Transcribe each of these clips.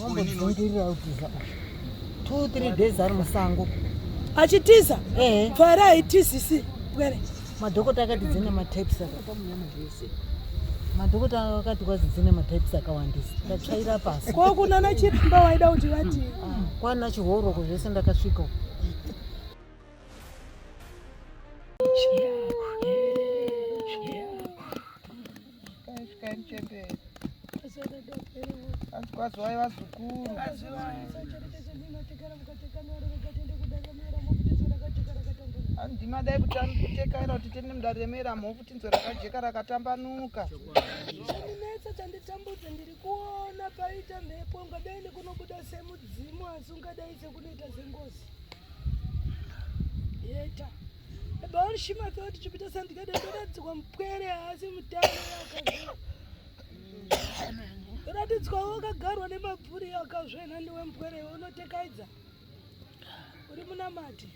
Wambodzingirira utiza. 2 3 days ari musango. achitiza Eh. pfara haitizisi pwere Madhokota akati dzine matypes aka. Madhokota akati kwazi dzine matypes akawandisa. Ndatsvaira pasi. ko kunana chiremba waida kuti vati Kwana chihoroko zvese ndakasvika. uko. Azikwaziwai vazukuru. Andima dai kutekaira kuti tende mudare remera mhofu tinzwe rakajeka rakatambanuka. Chandinetsa chanditambudza ndiri kuona paita mhepo ungadai nekunobuda semudzimu asi ungadai sekunoita sengozi. Yeta. Baorishima akati chipita sandikade ndaratidzwa mupwere haasi mutano ndaratidzwa wakagarwa nemabvuri akazvena ndiwe mupwere unotekaidza uri munamati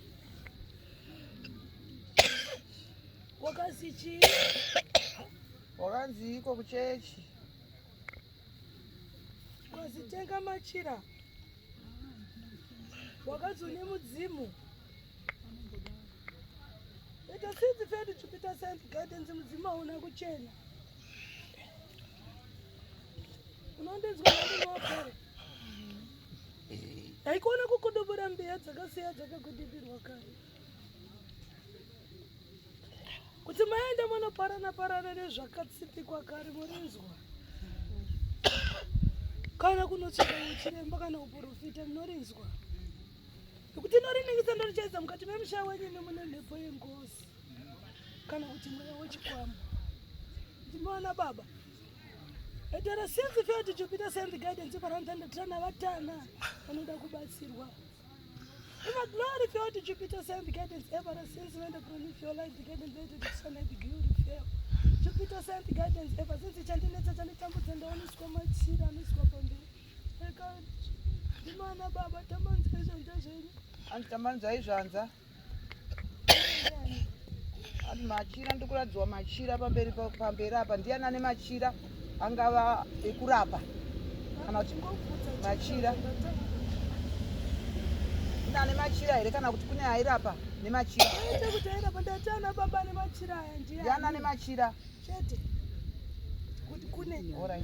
wakazi chii wakanzi iko kuchechi wazitenga machira wakazone mudzimu Ita since fed Jupiter sense guidance mudzimu hauna kuchena. Unondinzwa ndinopere. Haikona kukudubura mbiya dzakasiya dzakakudimbirwa kare. Kuti maenda munoparana parana nezvakatsipikwa kare murinzwa. Kana kunotsvaka chiremba kana uprofita munorinzwa. Kuti ndoriningiza ndorichaisa mukati memusha wenyu nemune mhepo yengozi kana kuti mweya wechikwambo. Ndimoona baba. Etera since failed to Jupiter send guidance for Antana Trana vatana vanoda kubatsirwa. Eva glory failed to Jupiter send guidance ever since when the crown of your life the guidance later to sun and glory fail. Jupiter send guidance ever since chandinetsa chanditambudza ndaoniswa machira aniswa pamberi. Imana baba tamanzai zvanza zvenyu. Anzi tamanzai zvanza. Anzi machira ndikuradzwa machira pamberi pamberi apa ndiani ane machira angava ekurapa kana kuti machira kune ane machira here kana kuti kune airapa nemachira kuti airapa ndati ana baba nemachira aya ndiani ane machira chete kuti kune orai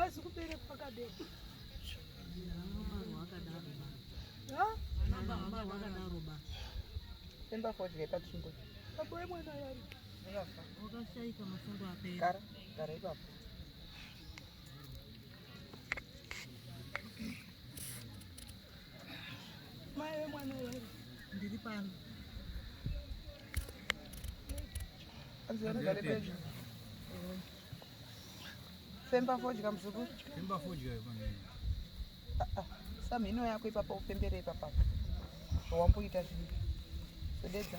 Asi kupere pakadero. Emba fodya ipatsingo. Apo emwana yari. Unofa. Wakashaika mafundo apera. Gara, gara ipapo. Mai vemwana uyu ndiri pano. Femba fodya mzukuru. Femba fodya yekwanini. Ah, ah. Samhino yako ipapa upembere ipapa. Wamboita zvinhu. Sodedza.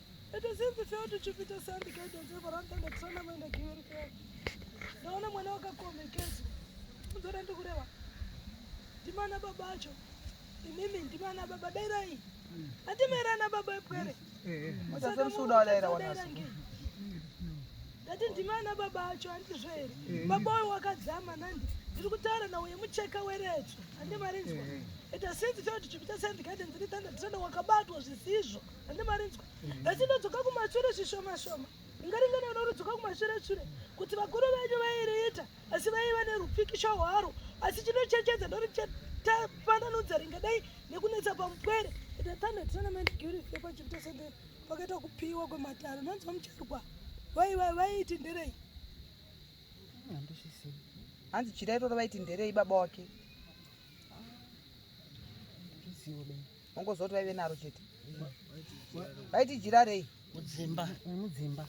It is easy for you to chip it aside because it is ever under the trauma when the gear repair. Naona mwana wakakombe kesi. Mzora ndikurewa. Ndimana baba acho. Imimi ndimana baba dairai. Andimera na baba epwere. Musasa msuda wala era wanasu. Ndati ndimana baba acho andizvere. Baba oyo wakadzama nandi. Ndiri kutaura nawo yemucheka werecho. Andimarinzwa. It is easy for you to chip it aside because it is under the trauma wakabatwa zvisizvo. Mm. hande marinzwa asi ndodzoka kumashure zvishoma shoma ingaringana unorudzoka kumashure shure kuti vakuru venyu vairiita asi vaiva nerupikisho hwaro asi chinochechedza ndori tapananudza ringadai nekunetsa pamupwere the thunder tournament guri fepa chipita sende pakaita kupiwa kwematare nonzwa mucharwa vaiva vaiti nderei hanzi chirairoro vaiti nderei baba wake ongozoti vaive naro chete vaiti jira rei mudzimba mudzimba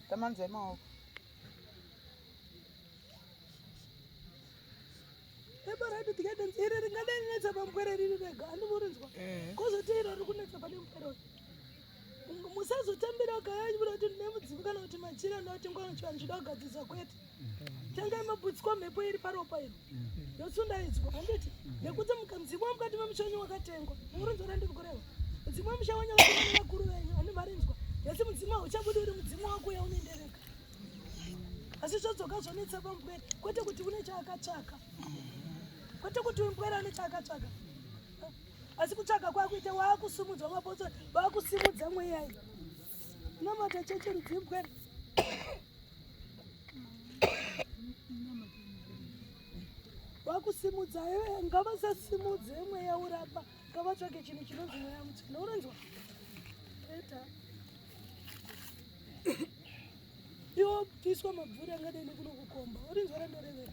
tamanzai maoko ebarati tikatenzi iri ringadai netsa pamupwere riri rega andimurinzwa eh. kozoti iro rikunetsa pane mupwere musazotambira kayanyu muda kuti ndine mudzimu kana kuti machira nda kuti ngwana chivanhu chida kugadzirisa kwete tangai mabutswa mhepo iri paropa iri yosundaidzwa handiti nekuti mudzimu wamukati memuchenyu wakatengwa murinzwa randiri kureva mudzimu wemusha wenyu vakaana vakuru venyu handi marinzwa yasi mudzimu hauchabudi uri mudzimu wako yaunoendereka asi zvodzoka zvonetsa pambwere kwete kuti une chaakatsvaka kwete kuti umbwere ane chaakatsvaka asi kutsvaga kwakuita waakusumudzwa mabotso vaakusimudza mweya iyi namata cheche rudzimbwe vakusimudza eh, ngavasasimudze mweya urapa ngavatsvage chinhu chinonzi mweya mutsvina uronzwa eta iwo piswa mabvuri angadai nekunokukomba urinzwa randorevera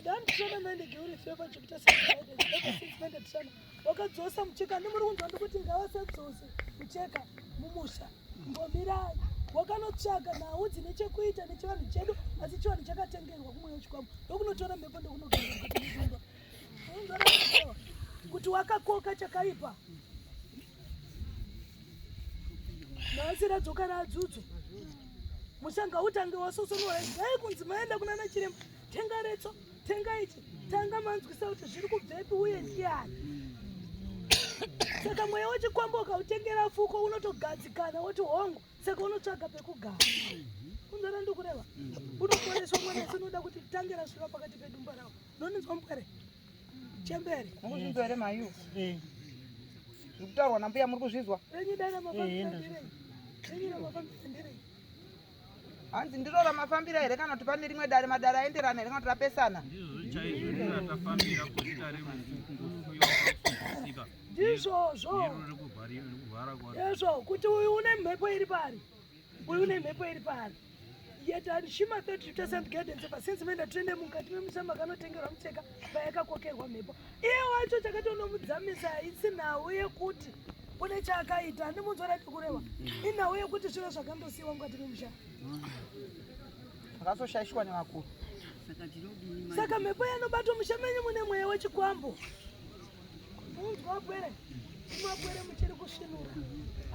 Ndandisona mende geuri feva chikuta sende tisana. Wakadzosa mucheka nemuri kunzwa ndikuti ngavasadzose mucheka mumusha. Mbomirai. Wakanotsvaga nhau dzine chekuita nechivanhu chedu asi chivanhu chakatengerwa kumwe wechikwambo ndokunotora mhepo ndokunogara kuti wakakoka chakaipa nhasi radzoka radzudzwa mushanga utange wasosonora dai kunzi maenda kuna nachiremba tenga retso tenga ichi tanga manzwisa kuti zviri kubvepi uye ndiani saka mweya wechikwambo ukautengera fuko unotogadzikana woti hongu saka unotsvaga pekugara kunzara ndokureva unoporeswa mwana asi unoda kuti tange rasvira pakati pedumba ravo Ndoninzwa mupwere. Chembere. Mukunzwa here mayu? Eh. Zvekutaurwa nambuya muri kuzvizwa? Renyi dana mafambira ndirei. Renyi dana mafambira ndirei. Hanzi ndiro ramafambira here kana kuti pane rimwe dare madare aenderana here kana kuti rapesana? Ndizvo chaizvo riri ratafambira kuzita rerufu ngufu yokusika. Ndizvozvo. Ndiro riri kuvhara kwaro. Ndizvo kuti uyu une mhepo iri pari. Uyu une mhepo iri paari. Yet and she must not return some guidance ever since menda tende mukati memusha makanotengerwa mucheka payakakokerwa mhepo. Iye wacho chakatonomudzamisa haisi nhau yekuti kune chaakaita handimunzwa rati kureva inhau yekuti zviro zvakandosiyiwa mukati memusha zvakazoshaishwa nevakuru saka mhepo yanobatwa musha menyu mune mweya wechikwambo Mwakwere, mwakwere muchiri kusvinura.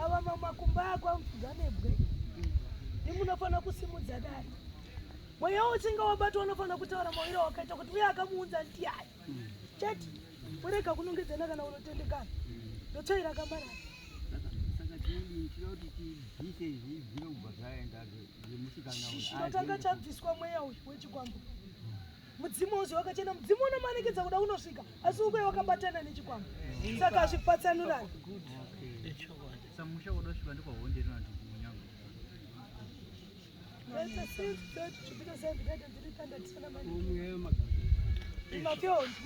Ava mamakumba ako amupfuza nebwe. Ndimunofanira kusimudza dai. Mweya uchinge wabatwa unofanira kutaura mawiro wakaita kuti uye akamuunza ndiyai. Chete, kurega kunongedzana kana unotendekana. Ndotsvaira kamara. Chitanga chabviswa mweya uyu wechikwambo. mudzimu wose wakachena mudzimu unomanikidza kuda unosvika asi ukuye wakabatana nechikwama saka hazvipatsanurani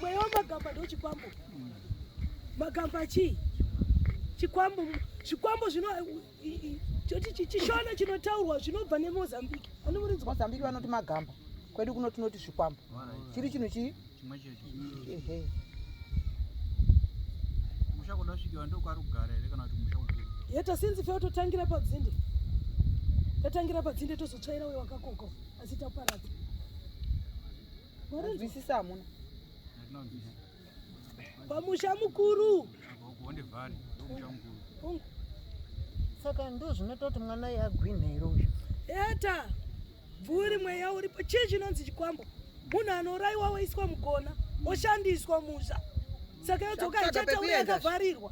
mweya wamagamba ndochikwambo magamba chii chikwambo zvikwambo zvino choti chishona chinotaurwa zvinobva nemozambique anomuridzwa mozambique vanoti magamba kwedu kuno tinoti zvikwambo chiri chinhu chii yeta sinzi feo totangira padzinde tatangira padzinde tozotsvaira uyo wakakoko asi taparadza mwarinzwisisa hamuna pamusha mukuru saka ndo zvinoita kuti mwana iye agwinhe here uyu eta bvuri mweya uripo chii chinonzi chikwambo munhu anourayiwa woiswa mugona oshandiswa musha saka yodzoka ichata uye akavharirwa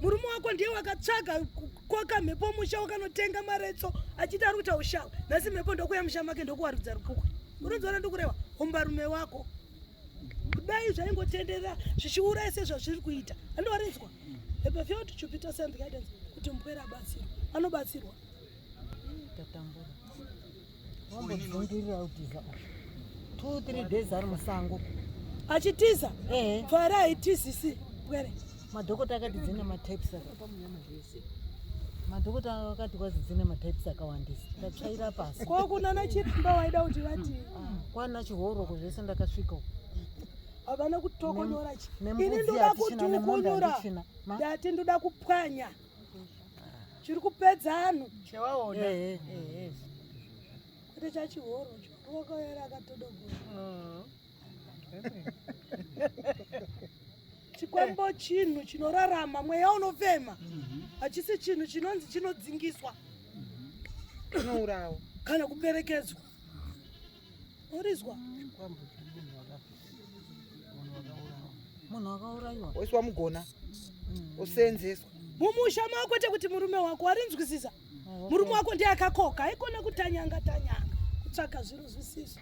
murume wako ndiye wakatsvaga koka mhepo musha wakanotenga maretso achiti ari kuita ushawa nhasi mhepo ndokuya musha make ndokuwarudza rukukwe unozoona ndikureva umbarume wako kudai zvaingotenderera zvichiuraya sezvazviri kuita andorinzwa epafioti chupita send guidance kuti mupwere abatsirwa anobatsirwa tatambura wambodzungirira utiza two three days ari musango achitiza pfari haitizisi pwere Madhokota akati dzine matypes akamunyama zvese. Madhokota akati kwazi dzine matypes akawandisa. Ndatsvaira pasi. Ko kuna na chiremba waida kuti vati. Ah, Kwana chihoro ko zvese ndakasvika. Havana kutokonyora chi. Ini ndoda kutokonyora. Ndati ndoda kupwanya. Chiri kupedza anhu. Chewaona. Eh, eh, eh. Kuti chachihoro cho. Wakaera akatodogoa. Mm. chikwambo chinhu chinorarama mweya unofema hachisi chinhu chinonzi chinodzingiswa chinourawa kana kuperekedzwa urizwa munhu wakaurayiwa oiswa mugona osenzeswa mumusha mako chekuti murume wako warinzwisisa Murume wako ndiye akakoka, haikona kutanyanga tanyanga kutsvaka zviro zvisiso.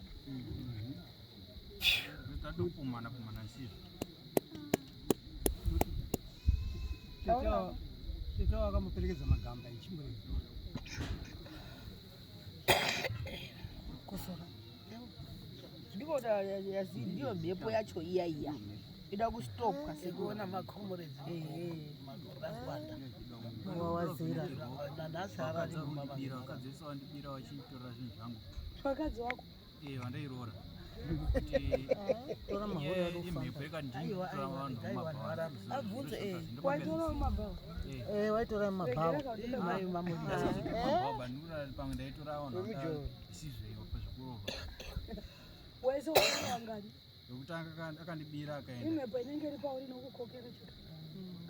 Tete wakamuperekedza magamba echimbuzi. Kusora. ndiko ndiyo mhepo yacho iya iya ida kustopwa sekuona macomured vawanda wawazira nanhasi aradibira vakadzi vese wandibira vachitora zvinhu zvangu vakadzi wako ee eh, vandairoora imhepo yakanditora vanhu mumabhawaabvunze waitora mumabhawa waitora mumabhawa pamwe ndaitora vanhu wese wangani yokutanga akandibira akaenda imhepo inenge iri pauri inokukokera chete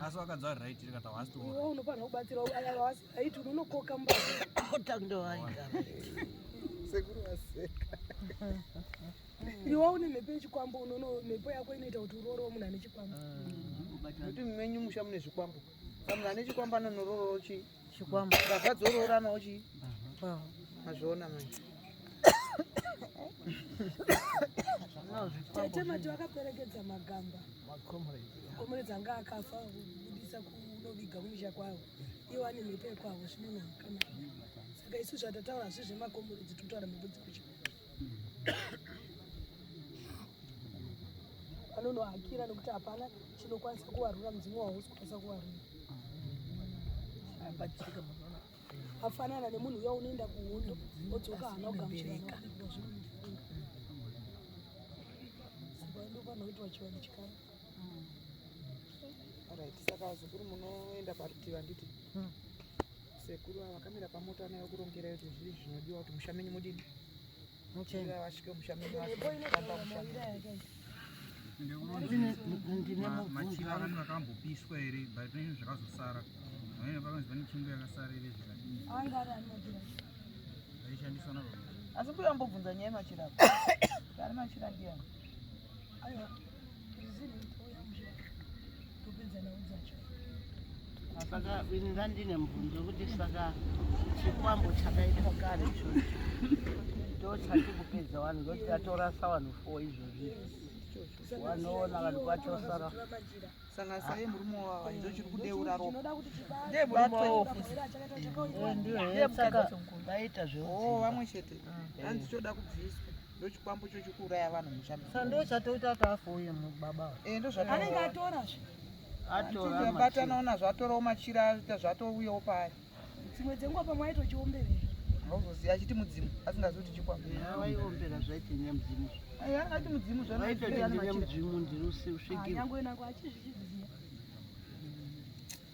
asi wakadza uri right rikata wasi to iwe unofanira kubatsira aya wasi right unonokoka mubata ndo waigara sekuru waseka iwe une mhepo yechikwambo unono mhepo yako inoita kuti uroorewo munhu ane chikwambo kuti mumenyu musha mune zvikwambo munhu ane chikwambo anonoroorochi chikwambo baba dzoroorana uchi mazviona mai tete mati vakaperekedza magamba makomrades anga akafa kubudisa kunoviga kumisha kwavo iwo ane mhepo yekwavo zvinonaka saka isu zvatataura hazvi zvemakomrades tinotaura mhepo dzekuchikoro vanonohakira nekuti hapana chinokwanisa kuvarura mudzimu wahausi kukwanisa kuvarura afanana nemunhu uya unoenda kuhondo odzoka hana kugamuchiraka ndopanoitwa chivanhu chikara right saka zukuru munoenda parutivi handiti hmm. Sekuru ava vakamira pamota vana vakurongerai kuti zvii zvinodiwa kuti musha menyu mudini muchena vasvike musha menyu vasvamba musha machiva vanhu vakambopiswa here but nezvinhu zvakazosara amene pakanzi pane chimbo yakasara ire zvakadii aishandiswa navo asi mbuya ambobvunza nyaya yemachira ari machira ndiyani Aiwa, rizini itouya muzvira topedza nhau dzacho. Saka ini ndandine mubvunzo kuti saka chikwambo chakaitwa kare ichocho ndochati kupedza vanhu ngokuti tatorasa vanhu four izvozvi wanoona vanhu kwatosara sanga saye murume wavo ndo chiri kudeura ropa ndiye murume wavo ndiye mukadzi vaita zvoo vamwe chete hanzi choda kubviswa ndochikwambo chochikuuraya vanhu muchamba saka ndo chatoita kuti afoye baba eh, ndozvaanenge atora zve atoraabatana ona zvatorawo machira aita zvatouyawo paari dzimwe dzenguva pamwe aitochiombevera auzoziva achiti mudzimu asingazi kuti chikwamaiwombera zvaiti nyamudzimu ayi anga ati mudzimu zvaaitoti nyamudzimu ndiri usvigirwa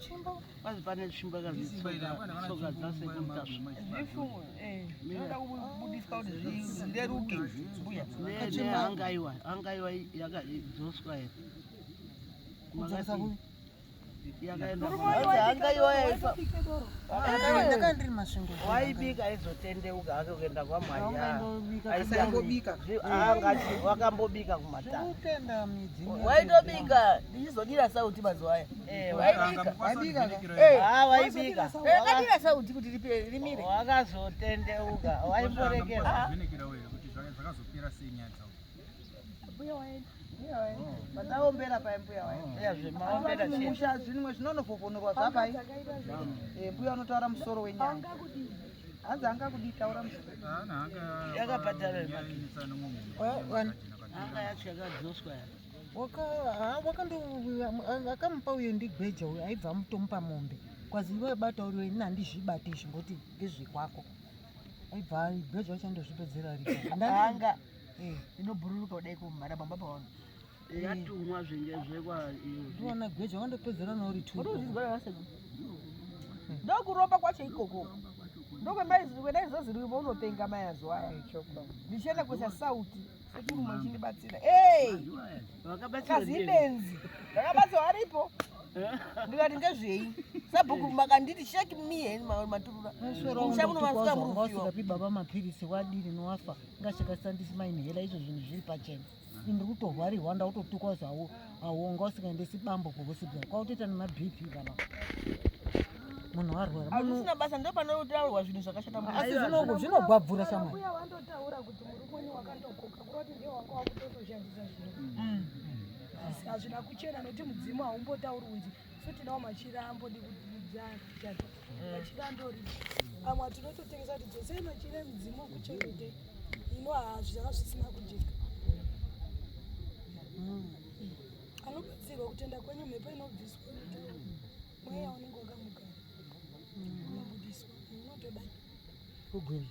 Chimbo. Basi pane chimbo yakazitsoka tsoka dzase kutasva. Zvifu eh ndoda kubudiswa kuti zvireruke mbuya. Ne ne angaiwa angaiwa yakadzoswa here. Kudzasa ku yakaenda angaiwa yaifa. Ndakanga ndiri masvingo. Waibika aizotendeuka hake kuenda kwamwaya. Aisambobika. Anga wakambobika kumatanga. Waitobika ndizodira sauti mazuva aya. Eh, waibika waibika eh ah waibika wakadira eh, sauti kuti ripe rimire wakazotendeuka waimborekera ah. zvinekira wewe kuti zvakazopera sei nyaya dzako mbuya waenda oh. vataombera pai mbuya waeaombera oh. musha zvinwe zvinonofofonorwa zvapai eh, mbuya unotaura musoro wenyanga hanzi anga kudii taura musoro yakabhadhara anga yacho yakadzoswa yaka akamupa uyo ndigweja uyo aibva amutomupa mombe kwazi iwe bata uri ini handizvibate izvi ngoti ngezvekwako aibva gweja wacho andozvipedzera rianga eh. inobhururuka kudai kumhara bamba paona eh. yatumwa zvinge zvekwandiona eh, gweja wandopedzera nauri ndokuromba kwacho ikoko ndokwendaizoziruiva unopenga mayazuva aya ndichienda kuisa sauti Sekuru muchindibatsira. Hey! Vakabatsira. Kazi benzi. Vakabatsira varipo. ndikati ngezvei sabhuku makanditi sheki mie maturura shamunomasika murufiwasikapi baba mapiritsi wadiri nowafa ngashakasandisi mainhera izvo zvinhu zviri pachena ndiri kutorwarirwa ndautotukwa zvawo awonga usingaendesi bambo kuhospital kwautoita nemabp kana munhu arwara azvisina basa ndo panotaurwa zvinhu zvakashata asi zvinongo zvinogwabvura shamwari hazvina kuchena nokuti mudzimu haumbotauri unzi so tinawo machira ambodi kudzana chati machira andori amwe atinototengesa kuti dzosei machira emudzimu okuchengete ino hazvi zvanga zvisina kujeka mm. anobatsirwa kutenda kwenyu mhepo inobviswa mweya unenge wakamugara mm. unobudiswa unotodai kugwini